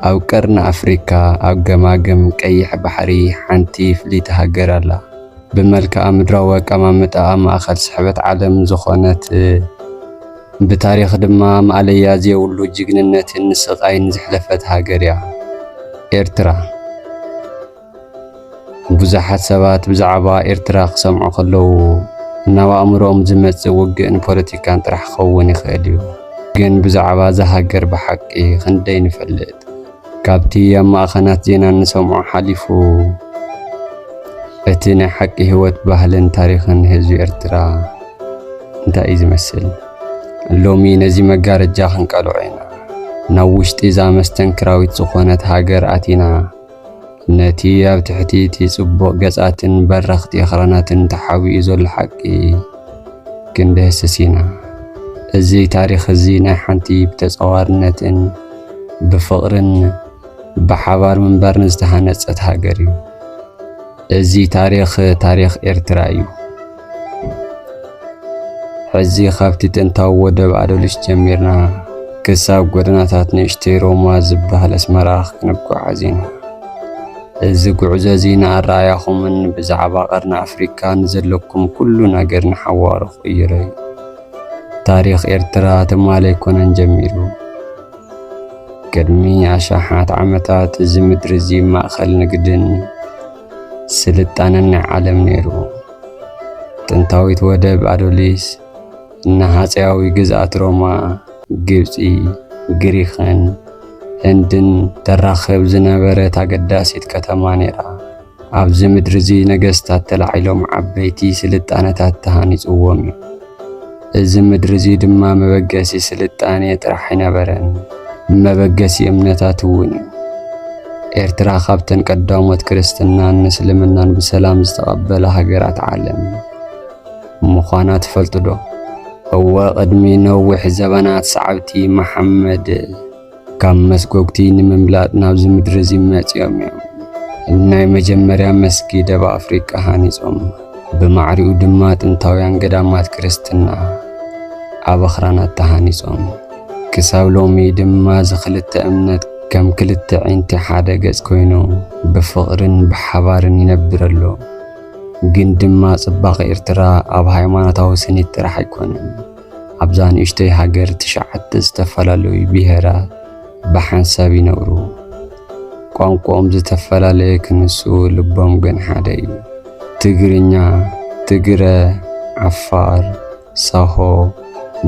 ኣብ ቀርኒ ኣፍሪካ ኣብ ገማግም ቀይሕ ባሕሪ ሓንቲ ፍልይቲ ሃገር ኣላ። ብመልክኣ ምድራዊ ኣቀማምጣኣ ማእኸል ስሕበት ዓለም ዝኾነት ብታሪኽ ድማ ማእለያ ዘየብሉ ጅግንነትን ስቓይን ዘሕለፈት ሃገር እያ። ኤርትራ። ብዙሓት ሰባት ብዛዕባ ኤርትራ ክሰምዑ ከለዉ ናብ ኣእምሮኦም ዝመጽእ ውግእን ፖለቲካን ጥራሕ ክኸውን ይኽእል እዩ። ግን ብዛዕባ እዛ ሃገር ብሓቂ ክንደይ ንፈልጥ? ካብቲ ኣብ ማእኸናት ዜና እንሰምዖ ሓሊፉ እቲ ናይ ሓቂ ህይወት ባህልን ታሪኽን ህዝቢ ኤርትራ እንታይ እዩ ዝመስል? ሎሚ ነዚ መጋረጃ ክንቀልዖ ኢና። ናብ ውሽጢ እዛ መስተንክራዊት ዝኾነት ሃገር ኣቲና ነቲ ኣብ ትሕቲ እቲ ጽቡቕ ገጻትን በረኽቲ ኣኽራናትን ተሓቢኡ ዘሎ ሓቂ ክንድህስስ ኢና። እዚ ታሪኽ እዚ ናይ ሓንቲ ብተጻዋርነትን ብፍቕርን ብሓባር ምንባርን ዝተሃነጸት ሃገር እዩ። እዚ ታሪኽ ታሪኽ ኤርትራ እዩ። ሕዚ ካብቲ ጥንታዊ ወደብ ኣደልሽ ጀሚርና ክሳብ ጎደናታት ንእሽተይ ሮማ ዝበሃል ኣስመራ ክንጓዓዝ ኢና። እዚ ጉዕዞ እዚ ንኣረኣእያኹምን ብዛዕባ ቀርኒ ኣፍሪካ ንዘለኩም ኩሉ ነገር ንሓዋሩ ክቕይሮ እዩ። ታሪኽ ኤርትራ ትማሊ ኣይኮነን ጀሚሩ። ቅድሚ ኣሽሓት ዓመታት እዚ ምድሪ እዚ ማእከል ንግድን ስልጣነን ናይ ዓለም ነይሩ። ጥንታዊት ወደብ ኣዶሊስ እና ሃፀያዊ ግዝኣት ሮማ፣ ግብፂ፣ ግሪኽን ህንድን ተራኽብ ዝነበረት ኣገዳሲት ከተማ ነይራ። ኣብዚ ምድሪ እዚ ነገስታት ተላዒሎም ዓበይቲ ስልጣነታት ተሃኒፅዎም እዩ። እዚ ምድሪ እዚ ድማ መበገሲ ስልጣኔ ጥራሕ ኣይነበረን፣ መበገሲ እምነታት እውን እዩ። ኤርትራ ካብተን ቀዳሞት ክርስትናን እስልምናን ብሰላም ዝተቐበላ ሃገራት ዓለም ምዃና ትፈልጡዶ? እወ፣ ቅድሚ ነዊሕ ዘበናት ሰዓብቲ መሓመድ፣ ካብ መስጎግቲ ንምምላጥ ናብዚ ምድሪ እዚ መጺኦም እዮም። ኣብ ናይ መጀመርያ መስጊ ደብ ኣፍሪቃ ሃኒጾም፣ ብማዕሪኡ ድማ ጥንታውያን ገዳማት ክርስትና ኣብ ኣኽራናት ተሃኒጾም። ክሳብ ሎሚ ድማ እዚ ክልተ እምነት ከም ክልተ ዒንቲ ሓደ ገጽ ኮይኑ ብፍቕርን ብሓባርን ይነብር ኣሎ። ግን ድማ ጽባቐ ኤርትራ ኣብ ሃይማኖታዊ ስኒት ጥራሕ ኣይኮነን። ኣብዛ ንእሽተይ ሃገር ትሽዓተ ዝተፈላለዩ ብሄራት ብሓንሳብ ይነብሩ። ቋንቋኦም ዝተፈላለየ ክንሱ ልቦም ግን ሓደ እዩ። ትግርኛ፣ ትግረ፣ ዓፋር፣ ሳሆ፣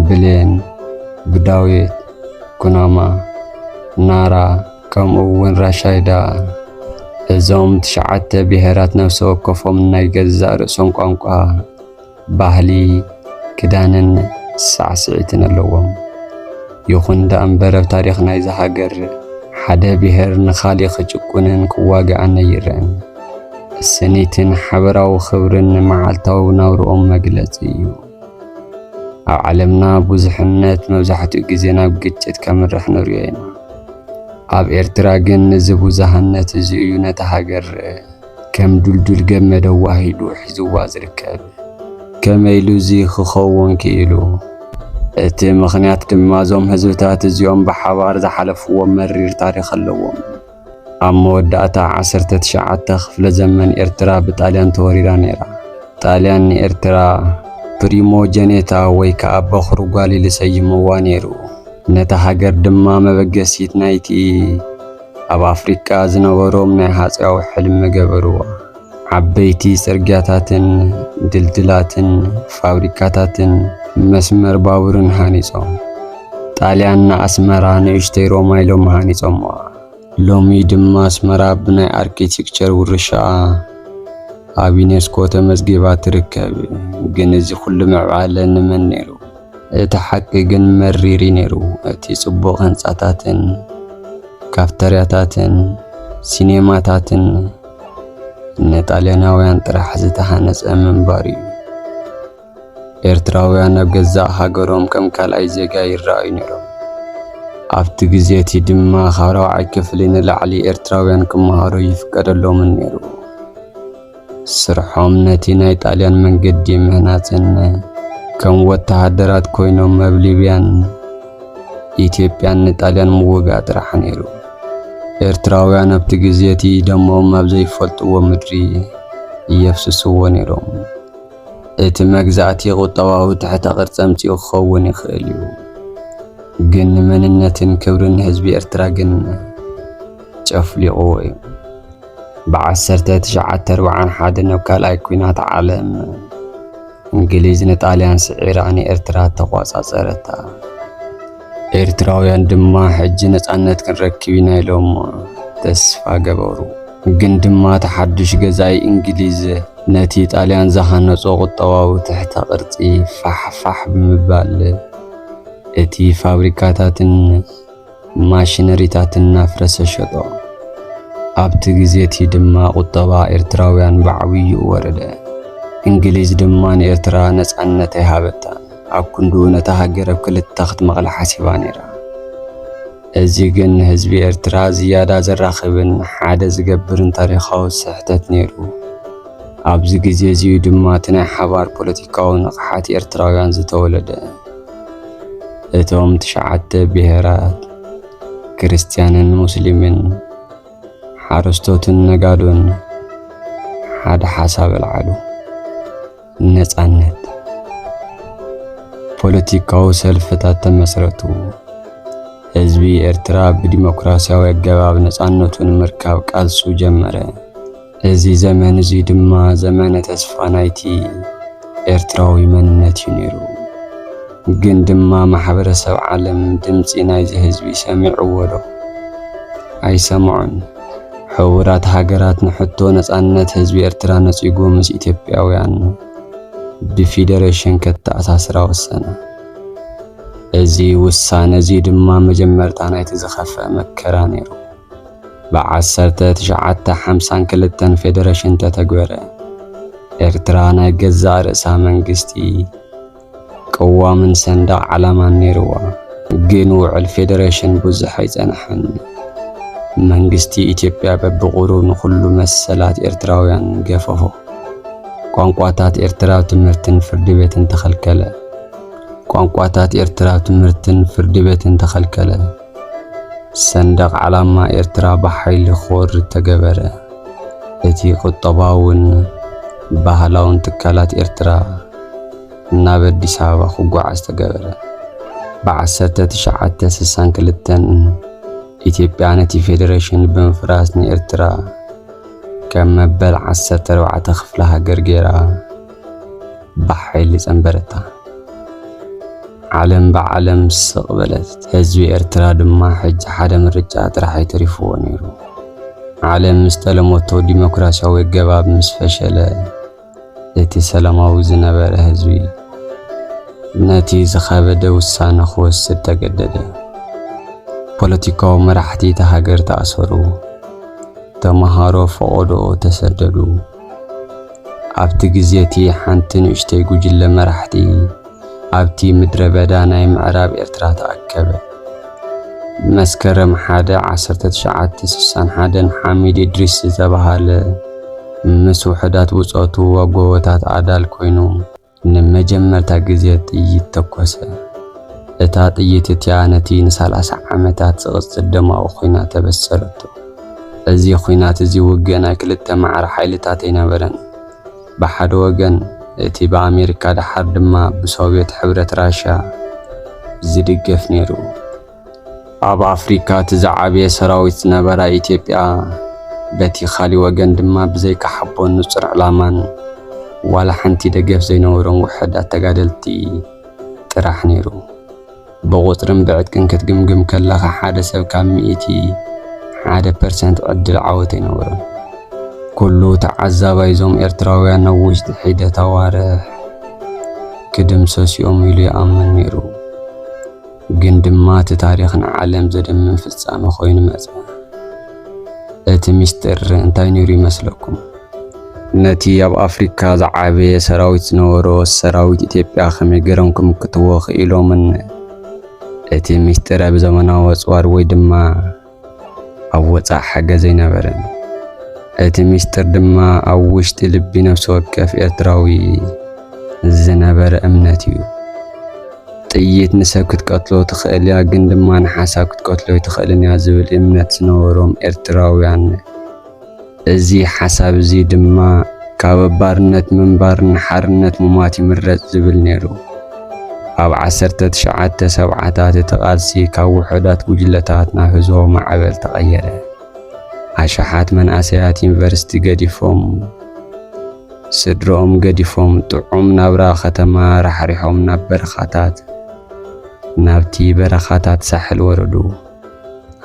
ብሌን፣ ብዳዊት፣ ኩናማ፣ ናራ ከምኡ እውን ራሻይዳ እዞም ትሽዓተ ብሄራት ነፍሲ ወከፎም ናይ ገዛእ ርእሶም ቋንቋ ባህሊ፣ ክዳንን ሳዕስዒትን ኣለዎም። ይኹን ደኣ እምበር ኣብ ታሪኽ ናይዛ ሃገር ሓደ ብሄር ንኻልእ ክጭቁንን ክዋግኣን ኣይረኣን። ስኒትን ሓበራዊ ክብርን መዓልታዊ ናብርኦም መግለጺ እዩ። ኣብ ዓለምና ብዙሕነት መብዛሕትኡ ግዜ ናብ ግጭት ከምርሕ ንሪኦ ኢና። ኣብ ኤርትራ ግን እዚ ብዙሃነት እዚ እዩ ነታ ሃገር ከም ዱልዱል ገመድ ኣዋሂዱ ሒዝዋ ዝርከብ። ከመይ ኢሉ እዚ ኽኸዉን ክኢሉ? እቲ ምኽንያት ድማ እዞም ህዝብታት እዚኦም ብሓባር ዝሓለፍዎ መሪር ታሪኽ ኣለዎም። ኣብ መወዳእታ ዓሰርተ ትሽዓተ ክፍለ ዘመን ኤርትራ ብጣልያን ተወሪራ ነይራ። ጣልያን ንኤርትራ ፕሪሞጀኔታ ወይ ከኣ በኹሪ ጓል ኢሉ ሰይምዋ ነይሩ። ነታ ሃገር ድማ መበገሲት ናይቲ ኣብ ኣፍሪቃ ዝነበሮም ናይ ሃጽያዊ ሕልሚ ገበርዋ። ዓበይቲ ጽርግያታትን ድልድላትን ፋብሪካታትን መስመር ባቡርን ሃኒጾም። ጣልያን ንኣስመራ ንእሽተይ ሮማ ኢሎም ሃኒጾምዋ። ሎሚ ድማ ኣስመራ ብናይ ኣርኪቴክቸር ውርሻኣ ኣብ ዩኔስኮ ተመዝጊባ ትርከብ። ግን እዚ ኩሉ ምዕባለ ንመን ነይሩ? እቲ ሓቂ ግን መሪር እዩ ነይሩ። እቲ ጽቡቕ ህንጻታትን ካፍተርያታትን ሲኔማታትን ንጣልያናውያን ጥራሕ ዝተሃነጸ ምንባሩ እዩ። ኤርትራውያን ኣብ ገዛእ ሃገሮም ከም ካልኣይ ዜጋ ይረኣዩ ነይሮም። ኣብቲ ግዜ እቲ ድማ ካብ ራብዓይ ክፍሊ ንላዕሊ ኤርትራውያን ክመሃሩ ኣይፍቀደሎምን ነይሩ። ስርሖም ነቲ ናይ ጣልያን መንገዲ ምህናጽን ከም ወተሃደራት ኮይኖም ኣብ ሊብያን ኢትዮጵያን ንጣልያን ምውጋእ ጥራሕ ነይሩ። ኤርትራውያን ኣብቲ ግዜ እቲ ደሞም ኣብ ዘይፈልጥዎ ምድሪ የፍስስዎ ነይሮም። እቲ መግዛእቲ ቁጠባዊ ትሕተ ቅርጺ ኣምጺኡ ክኸውን ይኽእል እዩ፣ ግን ንመንነትን ክብርን ህዝቢ ኤርትራ ግን ጨፍሊቕዎ እዩ። ብዓሰርተ ትሽዓተ ኣርብዓን ሓደን ኣብ ካልኣይ ኲናት ዓለም እንግሊዝ ንጣልያን ስዒራ ንኤርትራ ተቋጻጸረታ። ኤርትራውያን ድማ ሕጂ ነጻነት ክንረክብ ኢና ኢሎም ተስፋ ገበሩ። ግን ድማ እቲ ሓዱሽ ገዛኢ እንግሊዝ ነቲ ጣልያን ዝሃነጾ ቁጠባዊ ትሕተ ቅርጺ ፋሕፋሕ ብምባል እቲ ፋብሪካታትን ማሽነሪታት እናፍረሰ ሸጦ። ኣብቲ ግዜ እቲ ድማ ቁጠባ ኤርትራውያን ብዓብዩ ወረደ። እንግሊዝ ድማ ንኤርትራ ነጻነት ኣይሃበታን። ኣብ ክንዱ ነታ ሃገር ኣብ ክልተ ክትመቕላ ሓሲባ ነይራ። እዚ ግን ንህዝቢ ኤርትራ ዝያዳ ዘራኽብን ሓደ ዝገብርን ታሪኻዊ ስሕተት ነይሩ። ኣብዚ ግዜ እዚኡ ድማ እቲ ናይ ሓባር ፖለቲካዊ ንቕሓት ኤርትራውያን ዝተወለደ። እቶም ትሽዓተ ብሔራት ክርስትያንን ሙስሊምን ሓረስቶትን ነጋዶን ሓደ ሓሳብ ኣልዓሉ ነፃነት ፖለቲካዊ ሰልፍታት ተመስረቱ ህዝቢ ኤርትራ ብዲሞክራሲያዊ ኣገባብ ነፃነቱ ንምርካብ ቃልሱ ጀመረ እዚ ዘመን እዙይ ድማ ዘመነ ተስፋ ናይቲ ኤርትራዊ መንነት እዩ ነይሩ። ግን ድማ ማሕበረሰብ ዓለም ድምፂ ናይዚ ህዝቢ ሰሚዕዎ ዶ? ኣይሰምዖን። ሕቡራት ሃገራት ንሕቶ ነፃነት ህዝቢ ኤርትራ ነፂጉ ምስ ኢትዮጵያውያን ብፊደረሽን ከተኣሳስራ ወሰነ። እዚ ውሳነ እዙይ ድማ መጀመርታ ናይቲ ዝኸፍኣ መከራ ነይሩ። ብዓሰርተ ትሽዓተ ሓምሳን ክልተን ፌደረሽን ተተግበረ። ኤርትራ ናይ ገዛእ ርእሳ መንግስቲ፣ ቅዋምን ሰንደቕ ዓላማን ነይርዋ። ግን ውዕል ፌደረሽን ብዙሕ ኣይጸንሐን። መንግስቲ ኢትዮጵያ በብቑሩብ ንኹሉ መሰላት ኤርትራውያን ገፈፎ። ቋንቋታት ኤርትራ ኣብ ትምህርትን ፍርዲ ቤትን ተኸልከለ። ቋንቋታት ኤርትራ ኣብ ትምህርትን ፍርዲ ቤትን ተኸልከለ። ሰንደቕ ዓላማ ኤርትራ ብሓይሊ ክወርድ ተገበረ። እቲ ቁጠባውን ባህላውን ትካላት ኤርትራ ናብ ኣዲስ ኣበባ ክጓዓዝ ተገበረ። ብ1962 ኢትዮጵያ ነቲ ፌደሬሽን ብምፍራስ ንኤርትራ ከም መበል 14 ክፍለ ሃገር ገይራ። ብሓይሊ ጸንበረታ። ዓለም ብዓለም ስቕ በለት። ህዝቢ ኤርትራ ድማ ሕጂ ሓደ ምርጫ ጥራሕ'ዩ ተሪፍዎ ነይሩ። ዓለም ምስ ጠለሞቶ ዲሞክራስያዊ ኣገባብ ምስ ፈሸለ፣ እቲ ሰላማዊ ዝነበረ ህዝቢ ነቲ ዝኸበደ ውሳነ ክወስድ ተገደደ። ፖለቲካዊ መራሕቲ እታ ሃገር ተኣሰሩ። ተመሃሮ ፈቖዶ ተሰደዱ። ኣብቲ ግዜ እቲ ሓንቲ ንእሽተይ ጉጅለ መራሕቲ ኣብቲ ምድረ በዳ ናይ ምዕራብ ኤርትራ ተኣከበ። መስከረም 1 1961 ሓሚድ እድሪስ ዝተባህለ ምስ ውሑዳት ብጾቱ ኣብ ጎቦታት ኣዳል ኮይኑ ንመጀመርታ ግዜ ጥይት ተኮሰ። እታ ጥይት እቲኣ ነቲ ንሳላሳ ዓመታት ዝቕጽል ደማዊ ኹናት ኣበሰረቶ። እዚ ኹናት እዚ ውግእ ናይ ክልተ ማዕረ ሓይልታት ኣይነበረን። ብሓደ ወገን እቲ ብኣሜሪካ ደሓር ድማ ብሶቭየት ሕብረት ራሻ ዝድገፍ ነይሩ። ኣብ ኣፍሪካ እቲ ዝዓበየ ሰራዊት ዝነበራ ኢትዮጵያ በቲ ካሊእ ወገን ድማ ብዘይካ ሓቦን ንፁር ዕላማን ዋላ ሓንቲ ደገፍ ዘይነበሮም ውሑዳት ተጋደልቲ ጥራሕ ነይሩ። ብቑፅርን ብዕጥቅን ክትግምግም ከለኻ ሓደ ሰብ ካብ ሚእቲ ሓደ ፐርሰንት ዕድል ዓወት ኣይነበሮን። ኩሉ ተዓዛባይ እዞም ኤርትራውያን ኣብ ውሽጢ ሒደት ኣዋርሕ ክድምሰሱ እዮም ኢሉ ይኣምን ነይሩ። ግን ድማ እቲ ታሪኽ ንዓለም ዘደምም ፍጻመ ኮይኑ መጸ። እቲ ምስጢር እንታይ ነይሩ ይመስለኩም? ነቲ ኣብ ኣፍሪካ ዝዓበየ ሰራዊት ዝነበሮ ሰራዊት ኢትዮጵያ ከመይ ገይሮም ክምክትዎ ክኢሎምን እቲ ምስጢር ኣብ ዘመናዊ ኣጽዋር ወይ ድማ ኣብ ወጻእ ሓገዝ ኣይነበረን። እቲ ሚስጥር ድማ ኣብ ውሽጢ ልቢ ነፍሲ ወከፍ ኤርትራዊ ዝነበረ እምነት እዩ። ጥይት ንሰብ ክትቀትሎ ትኽእል እያ፣ ግን ድማ ንሓሳብ ክትቀትሎ ኣይትኽእልን እያ ዝብል እምነት ዝነበሮም ኤርትራውያን እዚ ሓሳብ እዚ ድማ ካብ ኣብ ባርነት ምንባር ንሓርነት ምሟት ይምረጽ ዝብል ነይሩ። ኣብ ዓሰርተ ትሽዓተ ሰብዓታት እቲ ቃልሲ ካብ ውሑዳት ጉጅለታት ናብ ህዝባዊ ማዕበል ተቐየረ። ኣሽሓት መንእሰያት ዩኒቨርሲቲ ገዲፎም ስድርኦም ገዲፎም ጥዑም ናብራ ከተማ ራሕሪሖም ናብ በረኻታት ናብቲ በረኻታት ሳሕል ወረዱ።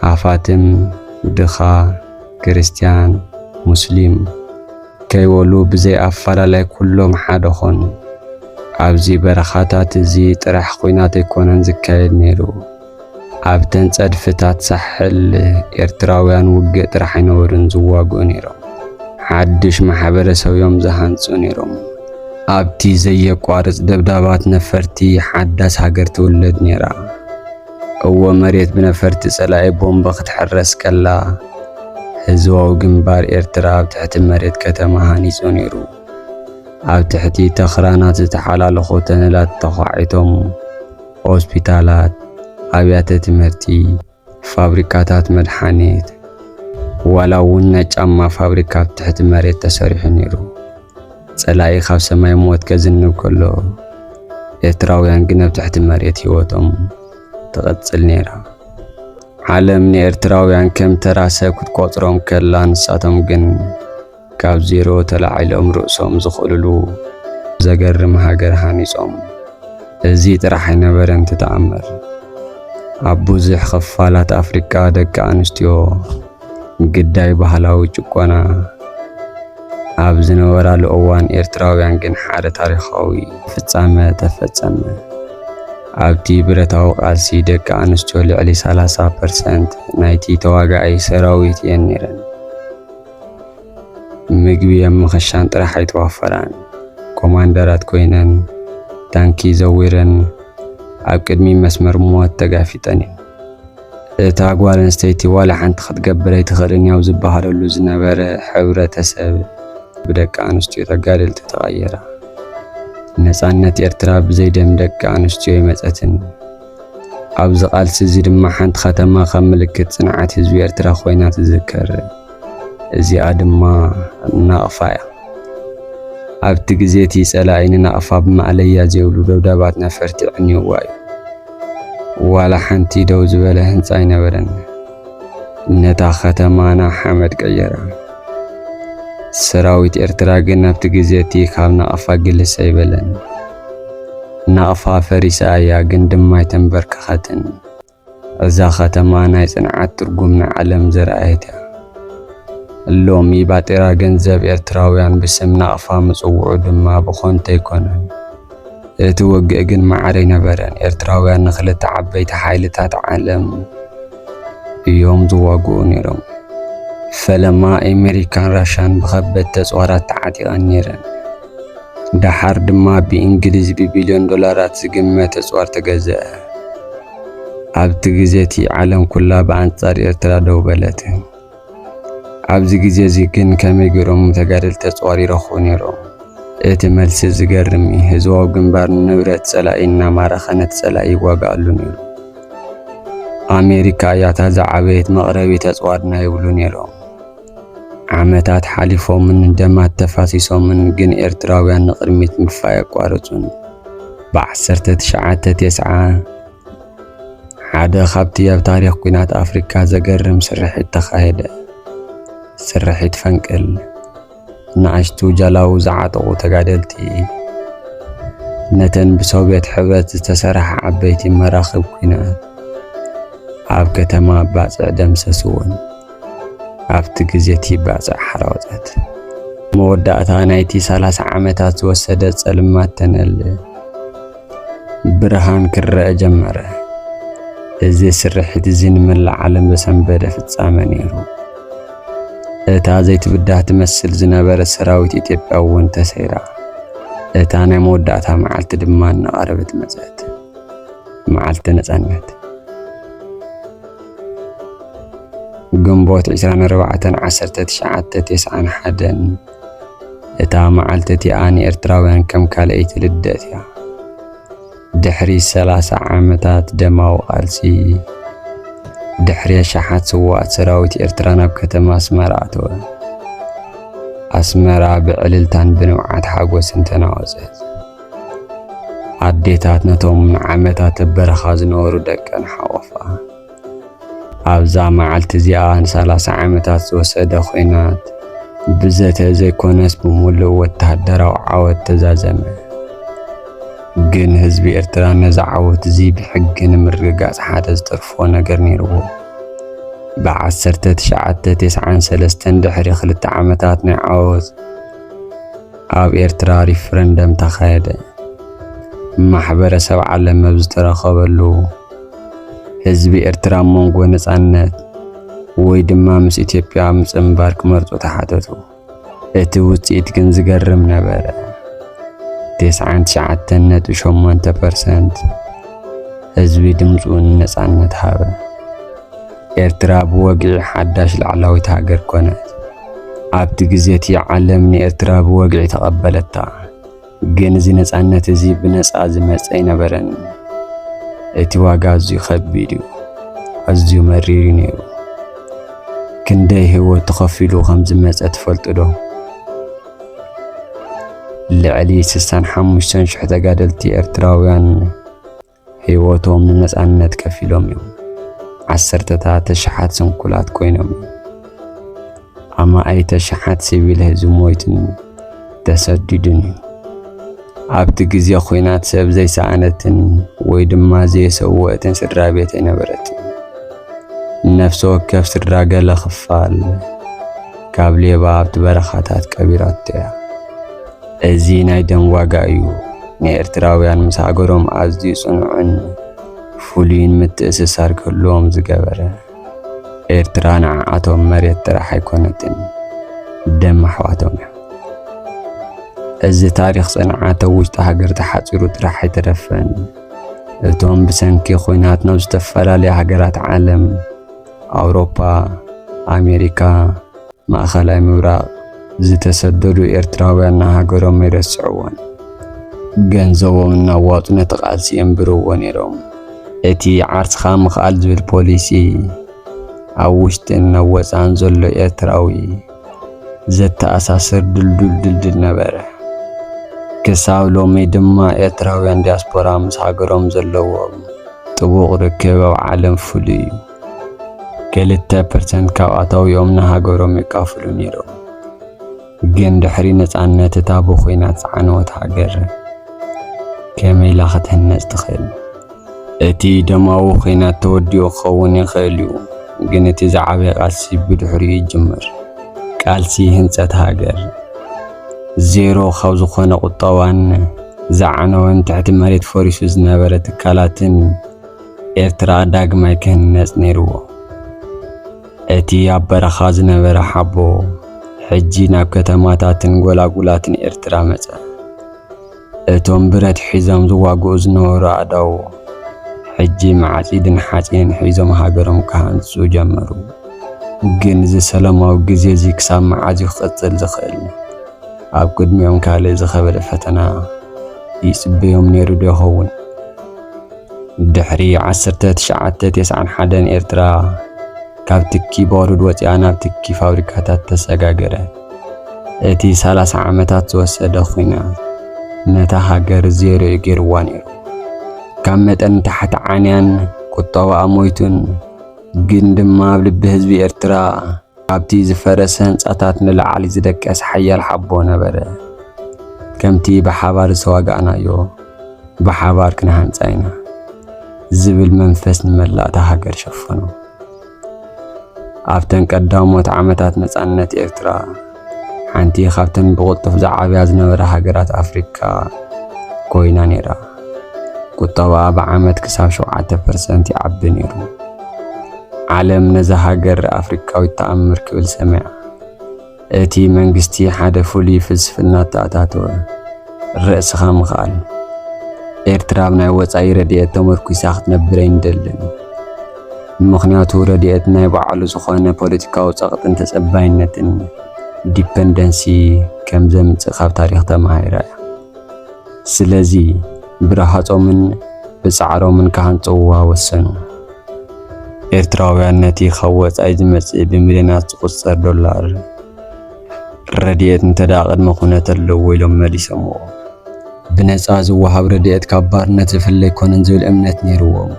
ሃፋትም ድኻ ክርስትያን ሙስሊም ከይወሉ ብዘይ ኣፋላላይ ኩሎም ሓደ ኾኑ። ኣብዚ በረኻታት እዚ ጥራሕ ኹናት ኣይኮነን ዝካየድ ነይሩ። ኣብተን ጸድፍታት ሳሕል ኤርትራውያን ውግእ ጥራሕ ኣይነበሩን ዝዋግኡ ነይሮም። ሓድሽ ማሕበረሰብዮም ዝሃንጹ ነይሮም። ኣብቲ ዘየቋርጽ ደብዳባት ነፈርቲ ሓዳስ ሃገር ትውለድ ነይራ። እወ መሬት ብነፈርቲ ጸላኢ ቦምብ ክትሕረስ ከላ ህዝባዊ ግንባር ኤርትራ ኣብ ትሕቲ መሬት ከተማ ሃኒጹ ነይሩ። ኣብ ትሕቲ ተኽራናት ዝተሓላለኹ ተነላት ተዃዒቶም ሆስፒታላት፣ ኣብያተ ትምህርቲ፣ ፋብሪካታት መድሓኒት፣ ዋላ እውን ናይ ጫማ ፋብሪካ ኣብ ትሕቲ መሬት ተሰሪሑ ነይሩ። ጸላኢ ካብ ሰማይ ሞት ከዝንብ ከሎ ኤርትራውያን ግን ኣብ ትሕቲ መሬት ህይወቶም ትቐጽል ነይራ። ዓለም ንኤርትራውያን ከም ተራ ሰብ ክትቆጽሮም ከላ ንሳቶም ግን ካብ ዜሮ ተላዒሎም ርእሶም ዝኽእልሉ ዘገርም ሃገር ሃኒጾም። እዚ ጥራሕ ኣይነበረን እቲ ተኣምር። ኣብ ብዙሕ ክፋላት ኣፍሪቃ ደቂ ኣንስትዮ ግዳይ ባህላዊ ጭቆና ኣብ ዝነበራሉ እዋን ኤርትራውያን ግን ሓደ ታሪኻዊ ፍጻመ ተፈጸመ። ኣብቲ ብረታዊ ቃልሲ ደቂ ኣንስትዮ ልዕሊ 30 ፐርሰንት ናይቲ ተዋጋኢ ሰራዊት እየን ነይረን። ምግቢ ኣብ ምኽሻን ጥራሕ ኣይተዋፈራን። ኮማንደራት ኮይነን ታንኪ ዘዊረን ኣብ ቅድሚ መስመር ሞት ተጋፊጠን እየን። እታ ጓል ኣንስተይቲ ዋላ ሓንቲ ክትገብር ኣይትኽእልን ኣብ ዝበሃለሉ ዝነበረ ሕብረተሰብ ብደቂ ኣንስትዮ ተጋደልቲ ተቐየራ። ነፃነት ኤርትራ ብዘይ ደም ደቂ ኣንስትዮ ይመፀትን። ኣብዚ ቃልሲ እዚ ድማ ሓንቲ ከተማ ከም ምልክት ፅንዓት ህዝቢ ኤርትራ ኮይና ትዝከር። እዚኣ ድማ ናቕፋ እያ። ኣብቲ ግዜ እቲ ጸላኢ ንናቕፋ ብማእለያ ዘይብሉ ደብዳባት ነፈርቲ ዕንዩዋ እዩ። ዋላ ሓንቲ ደው ዝበለ ህንጻ ኣይነበረን። ነታ ከተማና ሓመድ ቀየራ። ሰራዊት ኤርትራ ግን ኣብቲ ግዜ እቲ ካብ ናቕፋ ግልስ ኣይበለን። ናቕፋ ፈሪሳ እያ ግን ድማ ኣይተንበርከኸትን። እዛ ከተማ ናይ ጽንዓት ትርጉም ንዓለም ዘርኣየት እያ። ሎሚ ባጤራ ገንዘብ ኤርትራውያን ብስም ናቕፋ ምጽውዑ ድማ ብኾንቶ ኣይኮነን። እቲ ወግኢ ግን ማዕረ ኣይነበረን። ኤርትራውያን ንክልተ ዓበይቲ ሓይልታት ዓለም እዮም ዝዋግኡ ነይሮም። ፈለማ ኣሜሪካን ራሻን ብኸበድቲ ኣጽዋራት ተዓጢቐን ነይረን። ደሓር ድማ ብእንግሊዝ ብቢልዮን ዶላራት ዝግመት ኣጽዋር ተገዝአ። ኣብቲ ግዜ እቲ ዓለም ኩላ ብኣንጻር ኤርትራ ደው በለት። ኣብዚ ግዜ እዚ ግን ከመይ ገይሮም ተጋደልቲ ተጸዋሪረኹ ነይሮም? እቲ መልሲ ዝገርም እዩ። ህዝባዊ ግንባር ንብረት ጸላኢ እናማረኸ ነቲ ጸላኢ ይዋግኣሉ ነይሩ። ኣሜሪካ እያ እታ ዝዓበየት መቕረቢ ተጽዋርና ይብሉ ነይሮም። ዓመታት ሓሊፎምን ደማት ተፋሲሶምን ግን ኤርትራውያን ንቕድሚት ምግፋይ ኣቋረጹን። ብዓሰርተ ትሽዓተ ቴስዓ ሓደ ካብቲ ኣብ ታሪኽ ኲናት ኣፍሪካ ዘገርም ስርሒት ተኻየደ። ስርሒት ፈንቅል ንኣሽቱ ጃላዊ ዝዓጠቑ ተጋደልቲ ነተን ብሶቪየት ሕብረት ዝተሰርሓ ዓበይቲ መራኽብ ኲናት ኣብ ከተማ ባፅዕ ደምሰስዎን። ኣብቲ ግዜ እቲ ባፅዕ ሓራወፀት። መወዳእታ ናይቲ 30 ዓመታት ዝወሰደ ጸልማት ተነል ብርሃን ክረአ ጀመረ። እዚ ስርሒት እዚ ንመላእ ዓለም ዘሰንበደ ፍጻመ ነይሩ። እታ ዘይትብዳህ ትመስል ዝነበረ ሰራዊት ኢትዮጵያ እውን ተሰይራ። እታ ናይ መወዳእታ መዓልቲ ድማ እናቐረበት መጸት። መዓልቲ ነጻነት ግንቦት 24 1991 እታ መዓልቲ እቲኣ ንኤርትራውያን ከም ካልኣይቲ ልደት እያ። ድሕሪ ሰላሳ ዓመታት ደማዊ ቃልሲ፣ ድሕሪ ኣሽሓት ስዋኣት ሰራዊት ኤርትራ ናብ ከተማ ኣስመራ ኣተወ። ኣስመራ ብዕልልታን ብንብዓት ሓጎስን ተናወጸት። ኣዴታት ነቶም ንዓመታት ኣብ በረኻ ዝነበሩ ደቀን ሓቖፋ። ኣብዛ መዓልቲ እዚኣ ንሰላሳ ዓመታት ዝወሰደ ኲናት ብዘተ ዘይኮነስ ብምሉእ ወተሃደራዊ ዓወት ተዛዘመ። ግን ህዝቢ ኤርትራ ነዚ ዓወት እዚ ብሕጊ ንምርግጋጽ ሓደ ዝተርፎ ነገር ነይርዎ። ብዓሰርተ ትሽዓተ ቴስዓን ሰለስተን ድሕሪ ክልተ ዓመታት ናይ ዓወት ኣብ ኤርትራ ሪፍረንደም ተኻየደ። ማሕበረሰብ ዓለም ኣብ ዝተረኸበሉ ህዝቢ ኤርትራ ኣብ መንጎ ነጻነት ወይ ድማ ምስ ኢትዮጵያ ምጽንባር ክመርጹ ተሓተቱ። እቲ ውጽኢት ግን ዝገርም ነበረ። ቴስዓን ትሽዓተን ነጥቢ ሸሞንተ ፐርሰንት ህዝቢ ድምፁ ንነጻነት ሃበ። ኤርትራ ብወግዒ ሓዳሽ ላዕላዊት ሃገር ኮነት። ኣብቲ ግዜ እቲ ዓለም ንኤርትራ ብወግዒ ተቐበለታ። ግን እዚ ነፃነት እዚ ብነፃ ዝመፀ ኣይነበረን። እቲ ዋጋ ኣዝዩ ከቢድ እዩ፣ ኣዝዩ መሪር እዩ ነይሩ። ክንደይ ህይወት ተኸፊሉ ከም ዝመፀ ትፈልጡ ዶ? ልዕሊ ስሳን ሓሙሽተን ሽሕ ተጋደልቲ ኤርትራውያን ህይወቶም ንነጻነት ከፊሎም እዮም። ዓሰርተታት ኣሽሓት ስንኩላት ኮይኖም እዮም። ኣማኢት ኣሽሓት ሲቪል ህዝቢ ሞይቱን ተሰዲዱን እዩ። ኣብቲ ግዜ ኲናት ሰብ ዘይሰኣነትን ወይ ድማ ዘየሰወእትን ስድራ ቤት ኣይነበረትን። ነፍሲ ወከፍ ስድራ ገለ ክፋል ካብ ሌባ ኣብቲ በረኻታት ቀቢራቶ እያ። እዚ ናይ ደም ዋጋ እዩ ንኤርትራውያን ምስ ሃገሮም ኣዝዩ ጽኑዕን ፍሉይን ምትእስሳር ክህልዎም ዝገበረ። ኤርትራ ንዓኣቶም መሬት ጥራሕ ኣይኮነትን፣ ደም ኣሕዋቶም እያ። እዚ ታሪኽ ጽንዓት ኣብ ውሽጢ ሃገር ተሓጺሩ ጥራሕ ኣይተረፈን። እቶም ብሰንኪ ኹናት ናብ ዝተፈላለያ ሃገራት ዓለም ኣውሮፓ፣ ኣሜሪካ፣ ማእኸላይ ምብራቕ ዝተሰደዱ ኤርትራውያን ንሃገሮም ኣይረስዕዎን። ገንዘቦም እናዋጡ ነቲ ቃልሲ የንብርዎ ነይሮም። እቲ ዓርስኻ ምኽኣል ዝብል ፖሊሲ ኣብ ውሽጥን ኣብ ወፃእን ዘሎ ኤርትራዊ ዘተኣሳስር ድልዱል ድልድል ነበረ። ክሳብ ሎሚ ድማ ኤርትራውያን ዲያስፖራ ምስ ሃገሮም ዘለዎም ጥቡቕ ርክብ ኣብ ዓለም ፍሉይ እዩ። ክልተ ፐርሰንት ካብ ኣታዊኦም ንሃገሮም የካፍሉ ነይሮም። ግን ድሕሪ ነጻነት እታ ብኹናት ዝዓነወት ሃገር ከመይ ኢላ ክትህነጽ ትኽእል? እቲ ደማዊ ኲናት ተወዲኡ ክኸውን ይኽእል እዩ፣ ግን እቲ ዝዓበየ ቃልሲ ብድሕሪኡ ይጅምር። ቃልሲ ህንጸት ሃገር፣ ዜሮ ካብ ዝኾነ ቁጠባን ዝዓነወን ትሕቲ መሬት ፈሪሱ ዝነበረ ትካላትን ኤርትራ ዳግማይ ክህነጽ ነይርዎ። እቲ ኣብ በረኻ ዝነበረ ሓቦ ሕጂ ናብ ከተማታትን ጎላጉላትን ኤርትራ መጸ። እቶም ብረት ሒዞም ዝዋግኡ ዝነበሩ ኣእዳዉ፣ ሕጂ መዓጺድን ሓጺንን ሒዞም ሃገሮም ክሃንጹ ጀመሩ። ግን እዚ ሰላማዊ ግዜ እዚ ክሳብ መዓዝ እዩ ክቕጽል ዝኽእል? ኣብ ቅድሚኦም ካልእ ዝኸበደ ፈተና ይጽበዮም ነይሩዶ ይኸውን? ድሕሪ ዓሰርተ ትሽዓተ ተስዓን ሓደን ኤርትራ ካብ ትኪ ባሩድ ወጺኣ ናብ ትኪ ፋብሪካታት ተሰጋገረት። እቲ ሰላሳ ዓመታት ዝወሰደ ኹናት ነታ ሃገር ዜሮ እዩ ገይርዋ ነይሩ። ካብ መጠን ታሕቲ ዓንያን ቁጠባኣ ሞይቱን ግን ድማ ኣብ ልቢ ህዝቢ ኤርትራ ኣብቲ ዝፈረሰ ህንጻታት ንላዕሊ ዝደቀስ ሓያል ሓቦ ነበረ። ከምቲ ብሓባር ዝተዋጋእናዮ ብሓባር ክንሃንጻ ኢና ዝብል መንፈስ ንመላእታ ሃገር ሸፈኖ። ኣብተን ቀዳሞት ዓመታት ነጻነት ኤርትራ ሓንቲ ካብተን ብቕልጡፍ ዝዓብያ ዝነበራ ሃገራት ኣፍሪካ ኮይና ነይራ። ቁጠባኣ ብዓመት ክሳብ ሸውዓተ ፐርሰንት ይዓቢ ነይሩ። ዓለም ነዛ ሃገር ኣፍሪካዊት ተኣምር ክብል ሰሚዓ። እቲ መንግስቲ ሓደ ፍሉይ ፍልስፍና ኣተኣታተወ፣ ርእስኻ ምኽኣል። ኤርትራ ኣብ ናይ ወጻኢ ረድኤት ተመርኲሳ ክትነብር ኣይንደልን። ምኽንያቱ ረድኤት ናይ ባዕሉ ዝኾነ ፖለቲካዊ ጸቕጥን ተጸባይነትን፣ ዲፐንደንሲ፣ ከም ዘምጽእ ካብ ታሪኽ ተማሂራ እያ። ስለዚ ብረሃጾምን ብጻዕሮምን ክሃንጽውዋ ወሰኑ። ኤርትራውያን ነቲ ካብ ወጻኢ ዝመጽእ ብሚልዮናት ዝቑጸር ዶላር ረድኤት እንተደኣ ቅድመ ኩነት ኣለዎ ኢሎም መሊሶምዎ። ብነጻ ዝወሃብ ረድኤት ካብ ባርነት ዝፍለ ኣይኮነን ዝብል እምነት ነይርዎም።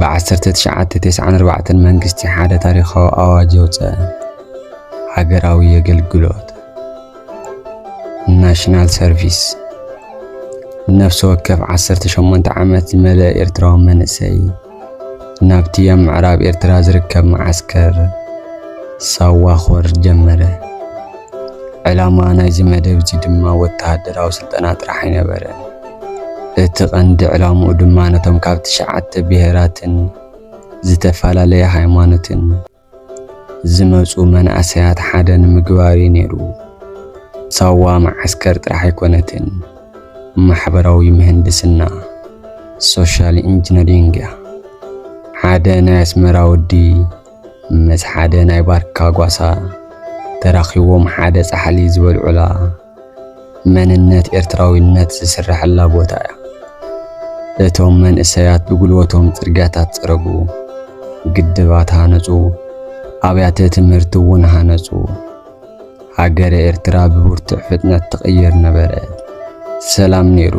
ብዓሰርተ ትሽዓተ ተስዓን ኣርባዕተን መንግስቲ ሓደ ታሪኻዊ ኣዋጅ ኣውጸ፣ ሃገራዊ የገልግሎት። ናሽናል ሰርቪስ ነፍሲ ወከፍ 18 ዓመት ዝመልአ ኤርትራዊ መንእሰይ ናብቲ ኣብ ምዕራብ ኤርትራ ዝርከብ መዓስከር ሳዋ ክወርድ ጀመረ። ዕላማ ናይዚ መደብ እዚ ድማ ወተሃደራዊ ስልጠና ጥራሕ ኣይነበረ። እቲ ቀንዲ ዕላምኡ ድማ ነቶም ካብ ትሽዓተ ብሄራትን ዝተፈላለየ ሃይማኖትን ዝመጹ መናእሰያት ሓደ ንምግባር እዩ ነይሩ። ሳዋ መዓስከር ጥራሕ ኣይኮነትን፣ ማሕበራዊ ምህንድስና፣ ሶሻል ኢንጂነሪንግ፣ እያ። ሓደ ናይ ኣስመራ ወዲ ምስ ሓደ ናይ ባርካ ጓሳ ተራኺቦም ሓደ ጻሕሊ ዝበልዑላ፣ መንነት ኤርትራዊነት ዝስረሐላ ቦታ እያ። እቶም መንእሰያት ብጉልበቶም ጽርግያታት ጸረጉ፣ ግድባት ሃነጹ፣ ኣብያተ ትምህርቲ እውን ሃነጹ። ሃገረ ኤርትራ ብብርቱዕ ፍጥነት ትቕየር ነበረ። ሰላም ነይሩ።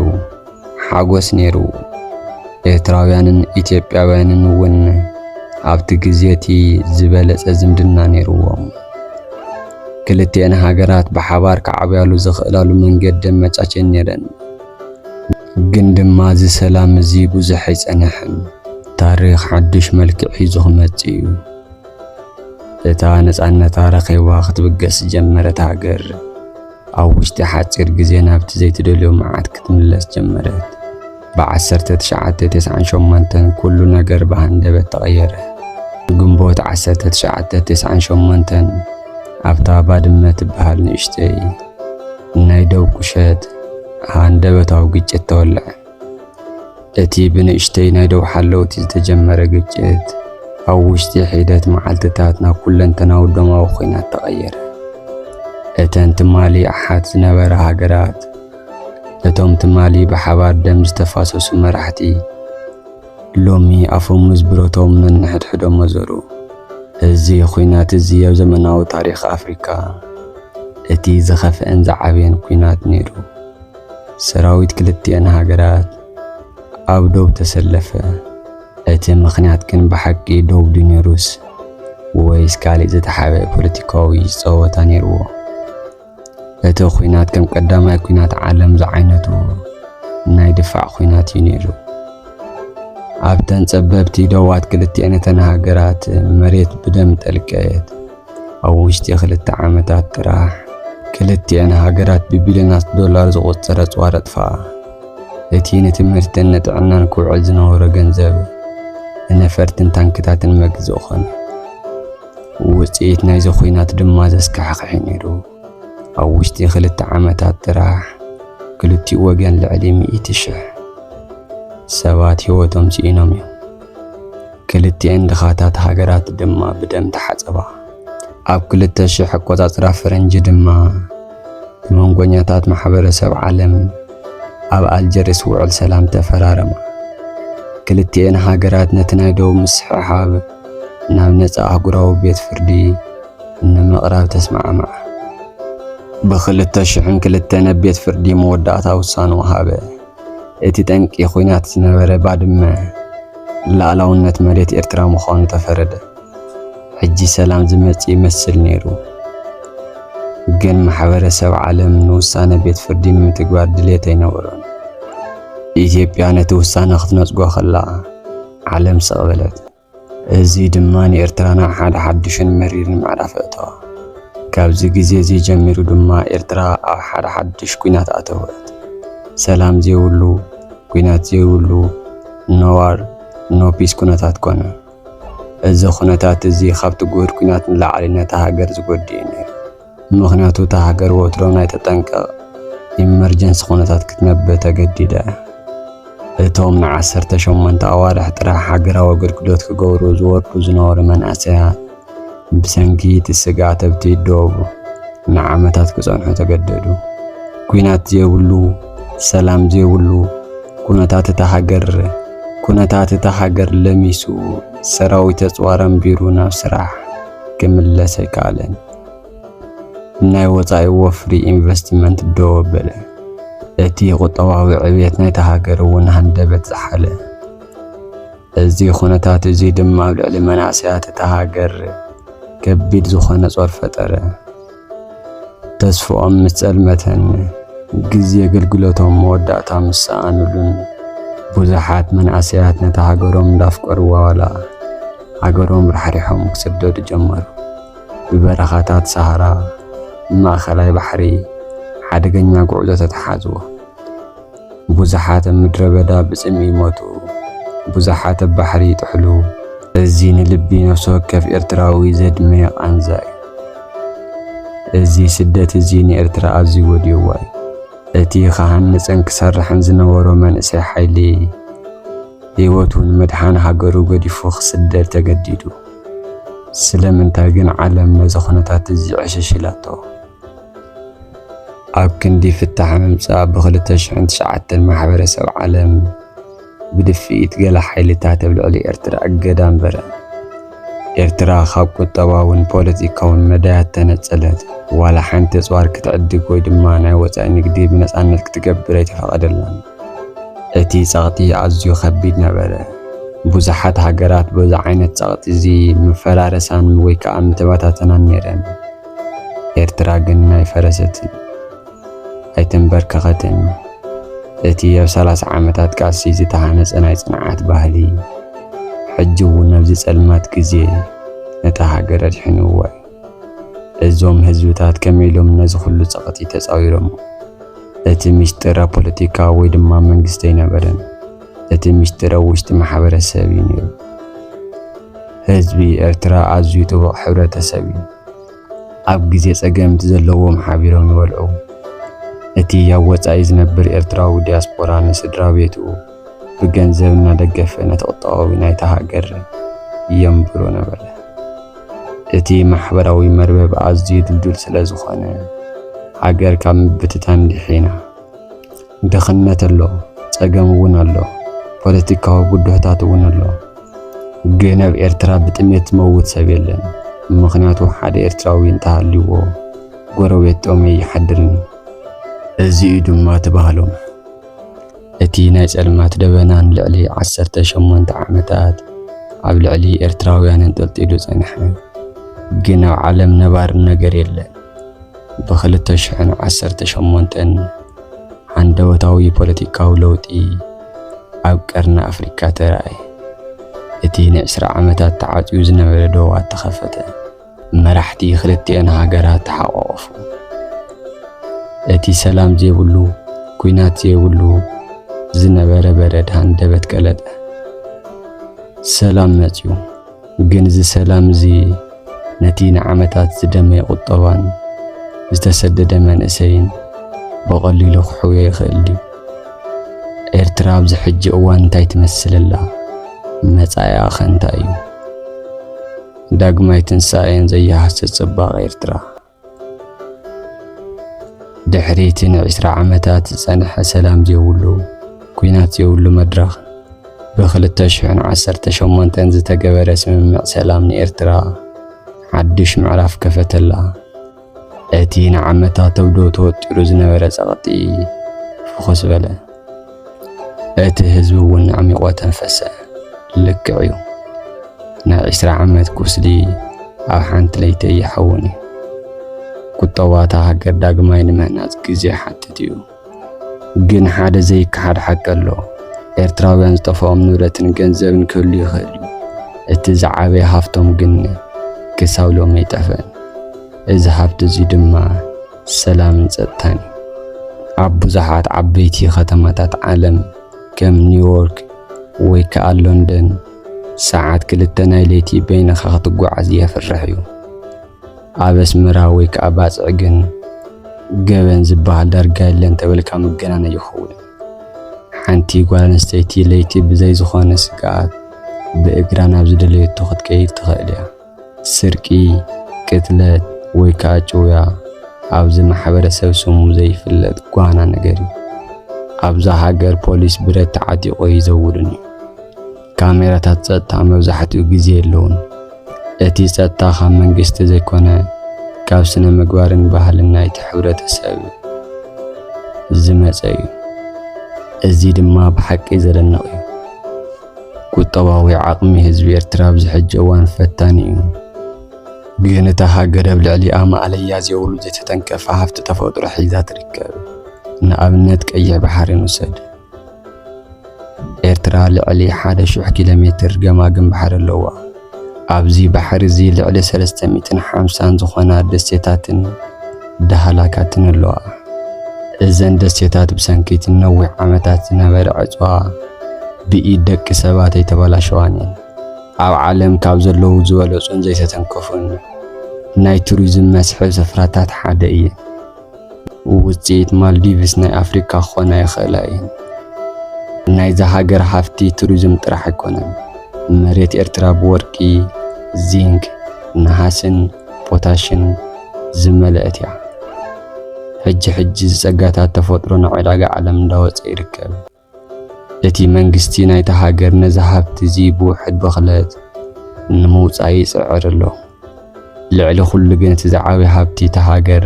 ሓጎስ ነይሩ። ኤርትራውያንን ኢትዮጵያውያንን እውን ኣብቲ ግዜ እቲ ዝበለጸ ዝምድና ነይርዎም። ክልቲኤን ሃገራት ብሓባር ክዓብያሉ ዝኽእላሉ መንገዲ ኣመቻችየን ነይረን። ግን ድማ እዚ ሰላም እዚ ብዙሕ ኣይጸንሐን። ታሪኽ ሓድሽ መልክዕ ሒዙ ክመጽእ እዩ። እታ ነጻነታ ረኺባ ክትብገስ ዝጀመረት ሃገር ኣብ ውሽጢ ሓጺር ግዜ ናብቲ ዘይትደልዮ መዓት ክትምለስ ጀመረት። ብ1998 ኩሉ ነገር ብሃንደበት ተቐየረ። ግንቦት 1998 ኣብታ ባድመ ትበሃል ንእሽተይ ናይ ደው ቁሸት ሃንደበታዊ ግጭት ተወልዐ። እቲ ብንእሽተይ ናይ ደው ሓለውቲ ዝተጀመረ ግጭት ኣብ ውሽጢ ሒደት መዓልትታት ናብ ኩለንተናዊ ደማዊ ኲናት ተቐየረ። እተን ትማሊ ኣሓት ዝነበራ ሃገራት እቶም ትማሊ ብሓባር ደም ዝተፋሰሱ መራሕቲ ሎሚ ኣፈሙዝ ብረቶም ነንሕድሕዶም መዘሩ። እዚ ኲናት እዚ ኣብ ዘመናዊ ታሪኽ ኣፍሪካ እቲ ዝኸፍአን ዝዓበየን ኲናት ነይሩ። ሰራዊት ክልቲኤን ሃገራት ኣብ ዶብ ተሰለፈ። እቲ ምኽንያት ግን ብሓቂ ዶብ ድዩ ነይሩስ ወይስ ካልእ ዝተሓበ ፖለቲካዊ ጸወታ ነይርዎ? እቲ ኲናት ከም ቀዳማይ ኲናት ዓለም ዝዓይነቱ ናይ ድፋዕ ኲናት እዩ ነይሩ። ኣብተን ጸበብቲ ዶባት ክልቲኤን እተን ሃገራት መሬት ብደም ጠልቀየት። ኣብ ውሽጢ ክልተ ዓመታት ጥራሕ ክልቲኤን ሃገራት ብቢልዮናት ዶላር ዝቑጸር ኣጽዋር ኣጥፍኣ። እቲ ንትምህርትን ንጥዕናን ክውዕል ዝነበሮ ገንዘብ ንነፈርትን ታንክታትን መግዝኢ ኾነ። ውጽኢት ናይዚ ኹናት ድማ ዘስካሕኽሕ ነይሩ። ኣብ ውሽጢ ክልተ ዓመታት ጥራሕ ክልቲኡ ወገን ልዕሊ ሚእቲ ሽሕ ሰባት ህይወቶም ስኢኖም እዮም። ክልቲኤን ድኻታት ሃገራት ድማ ብደም ተሓጸባ። ኣብ 2000 ኣቆጻጽራ ፈረንጂ ድማ ብመንጎኛታት ማሕበረሰብ ዓለም ኣብ ኣልጀርስ ውዕል ሰላም ተፈራረማ። ክልቲኤን ሃገራት ነቲ ናይ ደቡብ ምስሕሓብ ናብ ነጻ ኣህጉራዊ ቤት ፍርዲ ንምቕራብ ተስማዕምዓ። ብ2002 ኣብ ቤት ፍርዲ መወዳእታ ውሳንኡ ሃበ። እቲ ጠንቂ ኹናት ዝነበረ ባድመ ልኣላውነት መሬት ኤርትራ ምዃኑ ተፈረደ። ሕጂ ሰላም ዝመጽእ ይመስል ነይሩ። ግን ማሕበረሰብ ዓለም ንውሳነ ቤት ፍርዲ ንምትግባር ድሌት ኣይነበሮን። ኢትዮጵያ ነቲ ውሳነ ክትነጽጎ ከላ ዓለም ስቕ በለት። እዚ ድማ ንኤርትራ ናብ ሓደ ሓድሽን መሪርን ምዕራፍ ኣእተዋ። ካብዚ ግዜ'ዚ ጀሚሩ ድማ ኤርትራ ኣብ ሓደ ሓድሽ ኲናት ኣተወት። ሰላም ዘይብሉ፣ ኲናት ዘይብሉ፣ No War፣ No Peace ኩነታት ኮነ። እዚ ኩነታት'ዚ ካብቲ ግሁድ ኲናት ንላዕሊ ነታ ሃገር ዝጎድእ'ዩ ነይሩ። ምኽንያቱ እታ ሃገር ወትሮ ናይ ተጠንቀቕ ኢመርጀንሲ ኩነታት ክትነብር ተገዲዳ እያ። እቶም ንዓሰርተ ሸሞንተ ኣዋርሕ ጥራሕ ሃገራዊ ኣገልግሎት ክገብሩ ዝወርዱ ዝነበሩ መንእሰያት ብሰንኪ እቲ ስግኣት ኣብቲ ዶብ ንዓመታት ክጸንሑ ተገደዱ። ኲናት ዘይብሉ፣ ሰላም ዘይብሉ፣ ኩነታት እታ ሃገር ኩነታት እታ ሃገር ለሚሱ ሰራዊት ኣጽዋር ኣንቢሩ ናብ ስራሕ ክምለስ ኣይከኣለን። ናይ ወጻኢ ወፍሪ ኢንቨስትመንት ደው ኣበለ፣ እቲ ቁጠባዊ ዕብየት ናይታ ሃገር እውን ሃንደበት ዝሓለ። እዚ ኩነታት እዚ ድማ ኣብ ልዕሊ መናእሰያት እታ ሃገር ከቢድ ዝኾነ ጾር ፈጠረ። ተስፍኦም ምስ ጸልመተን ግዜ ኣገልግሎቶም መወዳእታ ምስ ሰኣኑሉን ብዙሓት መናእሰያት ነታ ሃገሮም እንዳፍቀርዋ ዋላ ሃገሮም ራሕሪሖም ክስደዱ ጀመሩ። ብበረኻታት ሰሃራ ንማእከላይ ባሕሪ ሓደገኛ ጉዕዞ ተተሓዝዎ። ብዙሓት ኣብ ምድረ በዳ ብጽምኢ ይሞቱ፣ ብዙሓት ኣብ ባሕሪ ይጥሕሉ። እዚ ንልቢ ነፍሲ ወከፍ ኤርትራዊ ዘድመ ቃንዛ እዩ። እዚ ስደት እዚ ንኤርትራ ኣዝዩ ጎዲእዋ እዩ። እቲ ክሃንጽን ክሰርሕን ዝነበሮ መንእሰይ ሓይሊ ህይወቱ ንምድሓን ሃገሩ ገዲፉ ክስደድ ተገዲዱ። ስለምንታይ ግን ዓለም ነዚ ኩነታት እዚ ዕሽሽ ኢላቶ? ኣብ ክንዲ ፍታሕ ምምጻእ ብ2009 ማሕበረሰብ ዓለም ብድፍኢት ገለ ሓይልታት ኣብ ልዕሊ ኤርትራ እገዳ ኣንበረ። ኤርትራ ካብ ቁጠባውን ፖለቲካውን መዳያት ተነጸለት። ዋላ ሓንቲ ኣጽዋር ክትዕድግ ወይ ድማ ናይ ወጻኢ ንግዲ ብነጻነት ክትገብር ኣይተፈቐደላን። እቲ ጸቕጢ ኣዝዩ ከቢድ ነበረ። ብዙሓት ሃገራት በዚ ዓይነት ጸቕጢ እዚ ምፈራረሳን ወይ ከኣ ምተበታተናን ነይረን። ኤርትራ ግን ኣይፈረሰትን፣ ኣይተንበርከኸትን። እቲ ኣብ ሰላሳ ዓመታት ቃልሲ ዝተሃነጸ ናይ ጽንዓት ባህሊ ሕጂ እውን ኣብዚ ጸልማት ግዜ ነታ ሃገር ኣድሒንዋ እዩ። እዞም ህዝብታት ከመይ ኢሎም ነዚ ኩሉ ጸቕጢ ተጻዊሮሞ? እቲ ምስጢር ኣብ ፖለቲካ ወይ ድማ መንግስቲ ኣይነበረን። እቲ ምስጢር ኣብ ውሽጢ ማሕበረሰብ እዩ ነይሩ። ህዝቢ ኤርትራ ኣዝዩ ጥቡቕ ሕብረተሰብ እዩ። ኣብ ግዜ ጸገም እቲ ዘለዎም ሓቢሮም ይበልዑ። እቲ ኣብ ወጻኢ ዝነብር ኤርትራዊ ዲያስፖራ ንስድራ ቤቱ ብገንዘብ እናደገፈ ነቲ ቁጠባዊ ናይታ ሃገር የንብሮ ነበረ። እቲ ማሕበራዊ መርበብ ኣዝዩ ድልዱል ስለ ዝኾነ ሃገር ካብ ምብትታን ድሒና። ድኽነት ኣሎ፣ ጸገም እውን ኣሎ፣ ፖለቲካዊ ብድሆታት እውን ኣሎ። ግን ኣብ ኤርትራ ብጥሜት ዝመውት ሰብ የለን፣ ምኽንያቱ ሓደ ኤርትራዊ እንተሃልዩዎ ጎረቤት ጦመይ ይሓድርን እዩ። እዚ እዩ ድማ እቲ ባህሎም። እቲ ናይ ጸልማት ደበና ንልዕሊ ዓሰርተ ሸሞንተ ዓመታት ኣብ ልዕሊ ኤርትራውያን እንጠልጢሉ ጸንሐ። ግን ኣብ ዓለም ነባሪ ነገር የለን። ብክልተ ሽሕን ዓሰርተ ሸሞንተን ሃንደበታዊ ፖለቲካዊ ለውጢ ኣብ ቀርኒ ኣፍሪካ ተራእየ። እቲ ንዕስራ ዓመታት ተዓጽዩ ዝነበረ ዶባት ተኸፈተ። መራሕቲ ክልቲኤን ሃገራት ተሓቋቖፉ። እቲ ሰላም ዘይብሉ ኩናት ዘይብሉ ዝነበረ በረድ ሃንደበት ቀለጠ። ሰላም መጽዩ ግን እዚ ሰላም እዚ ነቲ ንዓመታት ዝደመየ ቁጠባን ዝተሰደደ መንእሰይን ብቐሊሉ ክሕውዮ ይኽእል ድዩ? ኤርትራ ኣብዚ ሕጂ እዋን እንታይ ትመስል ኣላ? መጻኢኣ ኸ እንታይ እዩ? ዳግማይ ትንሳኤን ዘይሃስስ ጽባቐ ኤርትራ ድሕሪ እቲ ንዒስራ ዓመታት ዝጸንሐ ሰላም ዘይብሉ ኲናት ዘይብሉ መድረኽ ብ2018 ዝተገበረ ስምምዕ ሰላም ንኤርትራ ሓድሽ ምዕራፍ ከፈተላ። እቲ ንዓመታት ኣብ ዶ ተወጢሩ ዝነበረ ጸቕጢ ፍኹስ በለ። እቲ ህዝቢ እውን ኣዕሚቖ ተንፈሰ። ልክዕ እዩ፣ ናይ ዕስራ ዓመት ቁስሊ ኣብ ሓንቲ ለይቲ ኣይሓውን እዩ። ቁጠባ እታ ሃገር ዳግማይ ንምህናጽ ግዜ ይሓትት እዩ። ግን ሓደ ዘይከሓድ ሓቂ ኣሎ። ኤርትራውያን ዝጠፍኦም ንብረትን ገንዘብን ክህሉ ይኽእል እዩ። እቲ ዝዓበየ ሃፍቶም ግን ክሳብ ሎሚ ኣይጠፍአን። እዚ ሃፍቲ እዚ ድማ ሰላምን ጸጥታን እዩ። ኣብ ብዙሓት ዓበይቲ ከተማታት ዓለም ከም ኒውዮርክ ወይ ከኣ ሎንደን ሰዓት ክልተ ናይ ለይቲ በይንኻ ክትጓዓዝ የፍርሕ እዩ። ኣብ ኣስመራ ወይ ከኣ ባጽዕ ግን ገበን ዝበሃል ዳርጋ የለን እንተበልካ ምግናን ኣይኸውን። ሓንቲ ጓል ኣንስተይቲ ለይቲ ብዘይ ዝኾነ ስግኣት ብእግራ ናብ ዝደለየቶ ክትከይድ ትኽእል እያ። ስርቂ፣ ቅትለት ወይ ከኣ ጭውያ ኣብዚ ማሕበረሰብ ስሙ ዘይፍለጥ ጓና ነገር እዩ። ኣብዛ ሃገር ፖሊስ ብረት ተዓጢቑ ኣይዘውርን እዩ። ካሜራታት ጸጥታ መብዛሕትኡ ግዜ የለውን። እቲ ጸጥታ ካብ መንግስቲ ዘይኮነ ካብ ስነ ምግባርን ባህልን ናይቲ ሕብረተሰብ ዝመጸ እዩ። እዚ ድማ ብሓቂ ዘደንቕ እዩ። ቁጠባዊ ዓቕሚ ህዝቢ ኤርትራ ኣብዚ ሕጂ እዋን ፈታኒ እዩ። ግን እታ ሃገር ኣብ ልዕሊኣ ማእለያ ዘይብሉ ዘይተተንከፈ ሃፍቲ ተፈጥሮ ሒዛ ትርከብ። ንኣብነት ቀይሕ ባሕሪ ንውሰድ። ኤርትራ ልዕሊ ሓደ ሽሕ ኪሎ ሜትር ገማግም ባሕሪ ኣለዋ። ኣብዚ ባሕሪ እዚ ልዕሊ ሰለስተ ሚእትን ሓምሳን ዝኾና ደሴታትን ዳህላካትን ኣለዋ። እዘን ደሴታት ብሰንኪ እቲ ንነዊሕ ዓመታት ዝነበረ ዕጽዋ ብኢድ ደቂ ሰባት ኣይተበላሸዋን እየን። ኣብ ዓለም ካብ ዘለዉ ዝበለጹን ዘይተተንከፉን ናይ ቱሪዝም መስሕብ ስፍራታት ሓደ እየን። ውጽኢት ማልዲቭስ ናይ ኣፍሪካ ክኾና ይኽእላ እየን። ናይዛ ሃገር ሃፍቲ ቱሪዝም ጥራሕ ኣይኮነን። መሬት ኤርትራ ብወርቂ፣ ዚንክ፣ ነሃስን ፖታሽን ዝመልአት እያ። ሕጂ ሕጂ እዚ ጸጋታት ተፈጥሮ ናብ ዕዳጋ ዓለም እንዳወጸ ይርከብ። እቲ መንግስቲ ናይታ ሃገር ነዚ ሃብቲ እዚ ብውሕድ ብኽለት ንምውጻእ ይጽዕር ኣሎ። ልዕሊ ኩሉ ግን እቲ ዝዓበየ ሃብቲ እታ ሃገር፣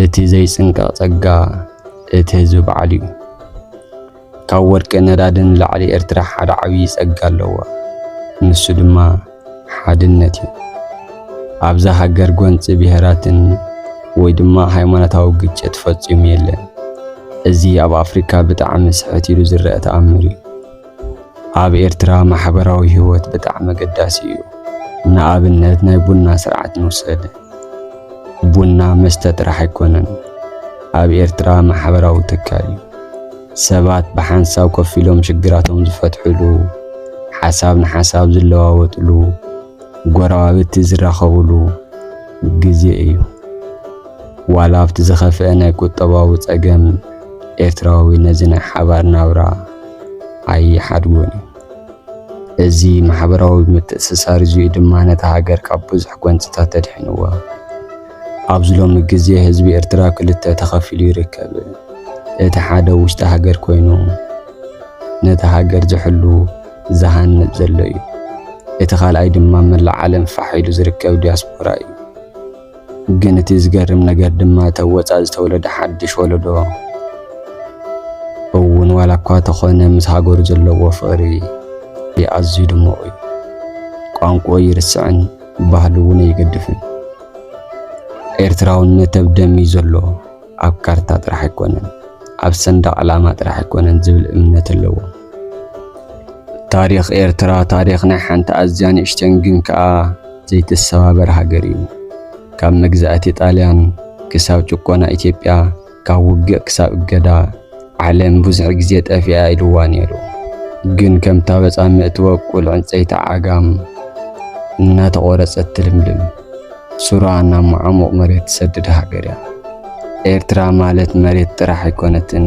እቲ ዘይጽንቀቕ ጸጋ እቲ ህዝቢ በዓሉ እዩ። ካብ ወርቅን ነዳድን ንላዕሊ ኤርትራ ሓደ ዓብዪ ጸጋ ኣለዋ። ንሱ ድማ ሓድነት እዩ። ኣብዛ ሃገር ጎንፂ ብሄራትን ወይ ድማ ሃይማኖታዊ ግጭት ፈፂሙ የለን። እዚ ኣብ ኣፍሪካ ብጣዕሚ ስሕት ኢሉ ዝረአ ተኣምር እዩ። ኣብ ኤርትራ ማሕበራዊ ህይወት ብጣዕሚ ኣገዳሲ እዩ። ንኣብነት ናይ ቡና ስርዓት ንውሰድ። ቡና መስተ ጥራሕ ኣይኮነን፣ ኣብ ኤርትራ ማሕበራዊ ትካል እዩ። ሰባት ብሓንሳብ ኮፍ ኢሎም ሽግራቶም ዝፈትሕሉ፣ ሓሳብ ንሓሳብ ዝለዋወጥሉ፣ ጎረባብቲ ዝራኸብሉ ግዜ እዩ። ዋላ ኣብቲ ዝኸፍአ ናይ ቁጠባዊ ጸገም ኤርትራዊ ነዚ ናይ ሓባር ናብራ ኣይሓድጎን እዩ። እዚ ማሕበራዊ ምትእስሳር እዚኡ ድማ ነታ ሃገር ካብ ብዙሕ ጎንጽታት ኣድሒንዋ። ኣብዚ ሎሚ ግዜ ህዝቢ ኤርትራ ክልተ ተኸፊሉ ይርከብ። እቲ ሓደ ውሽጢ ሃገር ኮይኑ ነታ ሃገር ዝሕሉ ዝሃንጽ ዘሎ እዩ። እቲ ካልኣይ ድማ መላእ ዓለም ፋሕ ኢሉ ዝርከብ ዲያስፖራ እዩ። ግን እቲ ዝገርም ነገር ድማ እቲ ኣብ ወጻኢ ዝተወለደ ሓድሽ ወለዶ እውን ዋላ እኳ ተኾነ ምስ ሃገሩ ዘለዎ ፍቕሪ ኣዝዩ ድሙቕ እዩ። ቋንቋኡ ይርስዕን ባህሉ እውን ኣይገድፍን። ኤርትራውነት ኣብ ደም እዩ ዘሎ፣ ኣብ ካርታ ጥራሕ ኣይኮነን፣ ኣብ ሰንደቕ ዕላማ ጥራሕ ኣይኮነን ዝብል እምነት ኣለዎ። ታሪኽ ኤርትራ ታሪኽ ናይ ሓንቲ ኣዝያ ንእሽተን ግን ከኣ ዘይትሰባበር ሃገር እዩ። ካብ መግዛእቲ ጣልያን ክሳብ ጭቆና ኢትዮጵያ ካብ ውግእ ክሳብ እገዳ ዓለም ብዙሕ ግዜ ጠፊኣ ኢልዋ ነይሩ። ግን ከም ታበጻ ምእትበቁል ዕንጸይቲ ዓጋም እናተቖረጸት ትልምልም፣ ሱራ ናብ መዓሙቕ መሬት ትሰድድ ሃገር እያ። ኤርትራ ማለት መሬት ጥራሕ ኣይኮነትን፣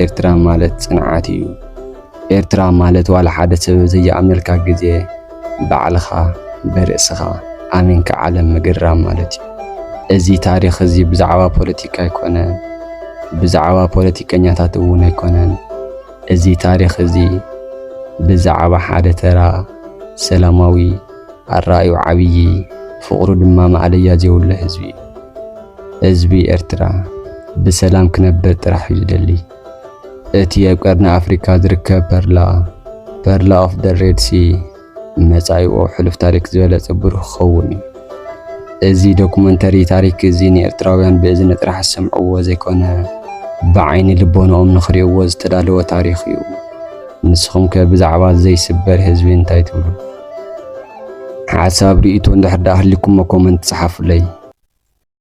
ኤርትራ ማለት ጽንዓት እዩ። ኤርትራ ማለት ዋላ ሓደ ሰብ ዘይኣምነልካ ግዜ ባዕልኻ ብርእስኻ ኣሚንካ ዓለም ምግርራም ማለት እዩ። እዚ ታሪኽ እዚ ብዛዕባ ፖለቲካ ኣይኮነን፣ ብዛዕባ ፖለቲከኛታት እውን ኣይኮነን። እዚ ታሪኽ እዚ ብዛዕባ ሓደ ተራ ሰላማዊ ኣረኣዩ ዓብዪ ፍቕሩ ድማ ማእለያ ዘይብሉ ህዝቢ እዩ። ህዝቢ ኤርትራ ብሰላም ክነብር ጥራሕ እዩ ዝደሊ። እቲ ኣብ ቀርኒ ኣፍሪካ ዝርከብ ፐርላ ፐርላ ኦፍ ደ ሬድ ሲ መጻኢኡ ሕሉፍ ታሪክ ዝበለጸ ብሩህ ክኸውን እዩ። እዚ ዶኩመንተሪ ታሪክ እዚ ንኤርትራውያን ብእዝኒ ጥራሕ ዝሰምዕዎ ዘይኮነ ብዓይኒ ልቦንኦም ንኽሪእዎ ዝተዳለወ ታሪኽ እዩ። ንስኹም ከ ብዛዕባ ዘይስበር ህዝቢ እንታይ ትብሉ? ሓሳብ ርእይቶ እንድሕር ደኣ ሃሊኩሞ ኮመንት ጸሓፉለይ።